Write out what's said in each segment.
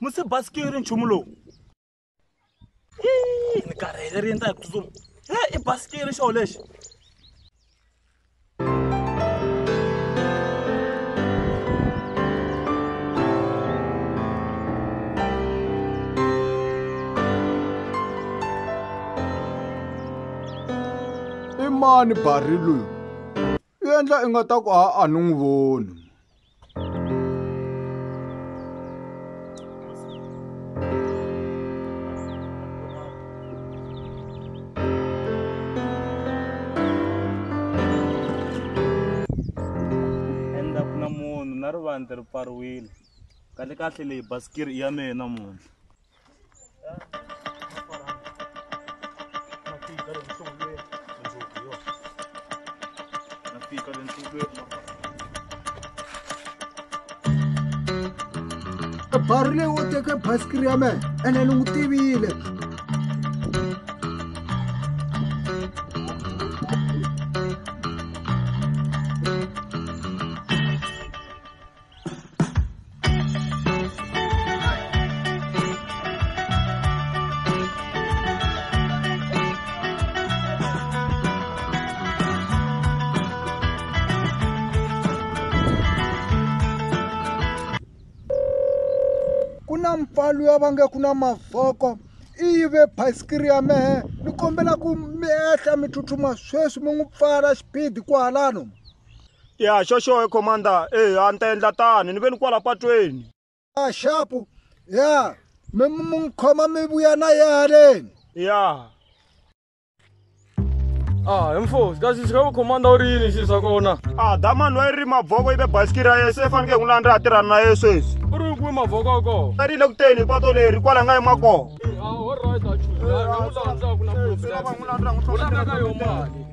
musi basikiri nchumu lowu ni karhele ri endla hi ku tsutsuma he i basikiri xoho lexi i mani bari loyi u endla i nga ta ku a a ni n'wi voni kahle kahle leyi basikiri i ya mehe namuntlha barile wo teke basikiri ya me ene ni n'wi tivile ku na mpfalo ya va nge ku na mavoko i yive basikiri ya mehe ni kombela ku mi ehla mi tsutsuma sweswi mi n'wi pfala xipidi kwalano ya xo xo commander e a ni ta endla tani ni ve ni kwala patweni a xapu ya mi mi khoma mi vuya na ye haleni ya Ah, mfosi, kasi sika ku commander u ri yini xi swa kona? Ah, damani wa ri mavoko ibe basikiri ra yena se faneke n'wi landza a tirhana na yena sweswi. U ri kwi mavoko ko. A ri le ku teni pato leri kwala nga yima kona. Ah, all right, a chuza. N'wi landza ku na problem. N'wi landza n'wi tlhela ka yona mali.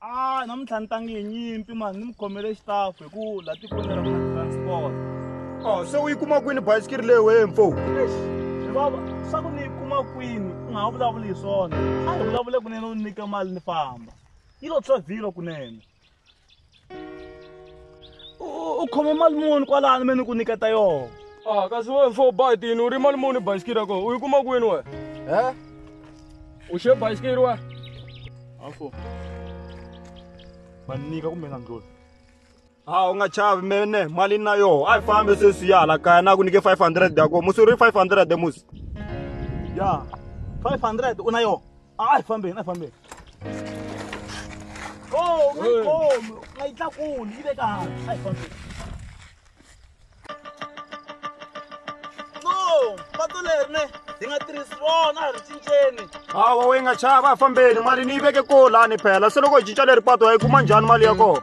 a namuntlha ni tangi hi nyimpi mani ni mi khomele xitafu hi ku la tikweni ra mina transport o se u yi kuma kwini bayisikiri leyi wee mfo baba swa ku ni yi kuma kwini u nga ha vulavuli hi swona a hi vulavule kunene u nyike mali ni famba yi lo tshovilo kunene u khome mali muni kwalani me ni ku nyiketa yona a ah, kasi we mfo bayitini u ri mali muni bayisikiri yako u yi kuma kwini we e u xe bayisikiri we afo va nyika kumbe nga ndloli ha u nga chavi mene mali na yoho a yi fambe sweswi ya hala kaya na ku nyike 500 yako musi u ri 500 musi ya 500 u na yoho Ai fambeni, ai fambeni. Oh, my Hey. God, nga yi tlakuli, yi le ka hansi. Ai fambeni. No, patu leri ne, hi nga tirhisi rona, a ri cinceni. Hawa we nga chava fambeni mali ni yi veke ko lani phela se loko hi cinca leri pato hi kuma njhani mali ya kona.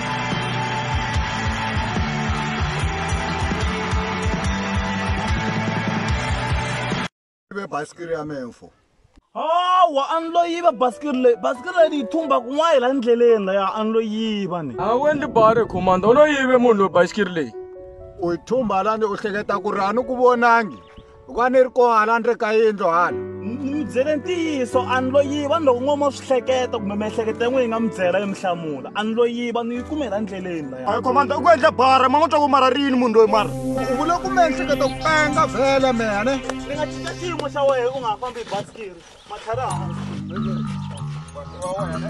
ibe basikiri ya memfo hawa a ni lo yiva basikiri leyi basikiri leyi ni yi thumba kun'wana la ndleleni laya a ni lo yiva ni a wu endli bare commander u lo yive munhu loyi basikiri leyi u yi thumba lani u hleketa ku ri a ni ku vonangi loko a ni ri kona hala ni ri ka yindlu hala ni mi byele ntiyiso a ni lo yiva ni loko n'wama swi hleketa kumbe miehleketo ya n'we yi nga mi byela yi mi hlamula a ni lo yiva ni yi kumela ndleleni laya komanda u ku endla bara ma n'wi twa ku mara rini munhu loyi mara u vule ku miehleketo ku penga vhele mene ni nga cinca xiyimo xa wena u nga ha fambi hi basikiri matlhari hansi wa wena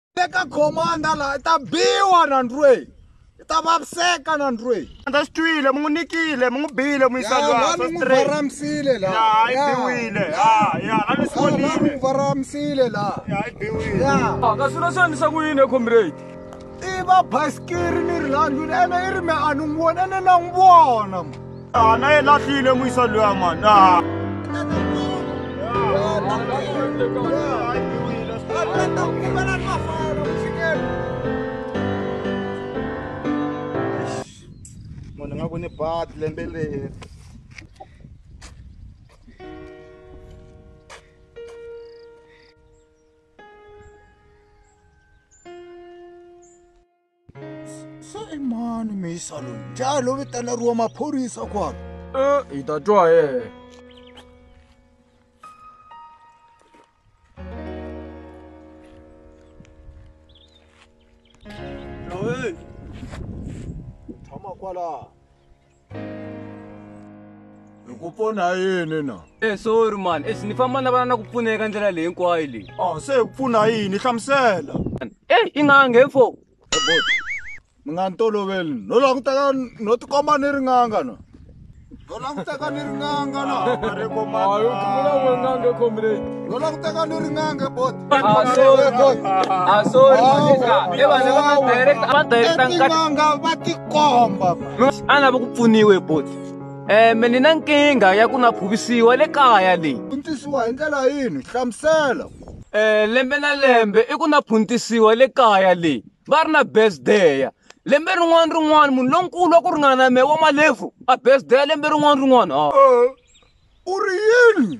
le ka khomanda laha i ta biwa na ndrweyi i ta vaviseka na ndrweyi andza swi twile mi n'wi nikile mi n'wi bile mi yisa lwasa n'wi varamisile laha i biwile ya ya la ni swi vonile n'wi varamisile laha ya i biwile ya ka swilo swi endlisa ku yini comrade i va basikiri ni ri landlwini ene i ri me a ni n'wi vona ene na n'wi vona Ah, na e lahlile moisa loya mani ah. munhu nga ku ni bat lembe leri se i mani misa loyi njhani lo vitaneriwa maphorisa kwalo e eh, hi ta twa yena loyi tshama kwalaha hi ku pfuna hi yini na e sorry mani exi ni famba na vana na ku pfuna eka ndlela leyi hinkwayo leyi a se hi ku pfuna hi yini hlamusela e i nga nge fo mi nga ni toloveli no languteka no tikomba ni ri n'anga na no languteka ni ri n'anga na no languteka ni ri n'anga bot etin'anga va tikomba a lava ku pfuniwe bot um ni na nkingha ya ku na phuvisiwa le kaya leyi puntisiwa hi ndlela yini hlamusela um lembe na lembe i ku na phuntisiwa le kaya leyi va ri na besdeya lembe rin'wana rin'wana munhu lonkulu wa ku ringana na me wa malefu a besdeya lembe rin'wana rin'wana ha u ri yini